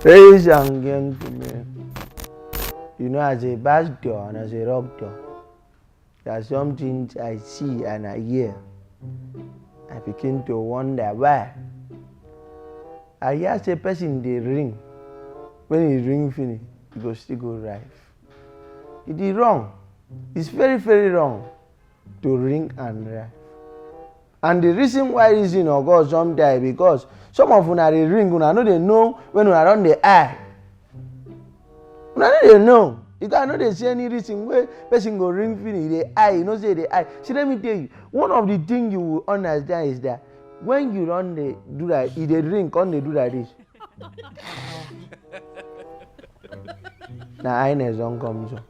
Ladies and gentlemen, you know as a bass door and as a rock door, there are some things I see and I hear. I begin to wonder why. I hear say person dey ring, when he ring finish, he go still go rife. It is wrong. It's very very wrong. to ring and ref and the reason why reason or god don die because some of una dey ring una no dey know when una don dey eye una no dey know you guys no dey see any reason wey person go ring finish e dey eye you know say e dey eye see let me tell you one of the thing you will understand is that when you don dey do that e dey ring come dey do like this na highness don come so.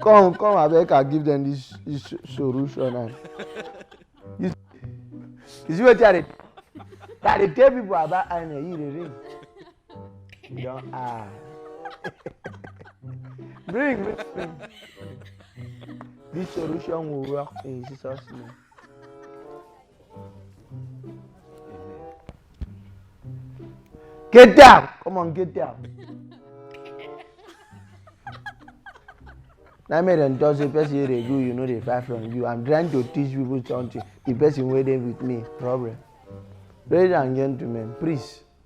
come come abeg i give them this this solution and you you see wetin i dey i dey tell people about aina you dey ring you don ah bring bring bring this solution will work in jesus name. Get down! Come on, get down. na me dem talk say person wey dey do you no dey buy from you i'm trying to teach people something the person wey dey with me problem ladies and gentlemen please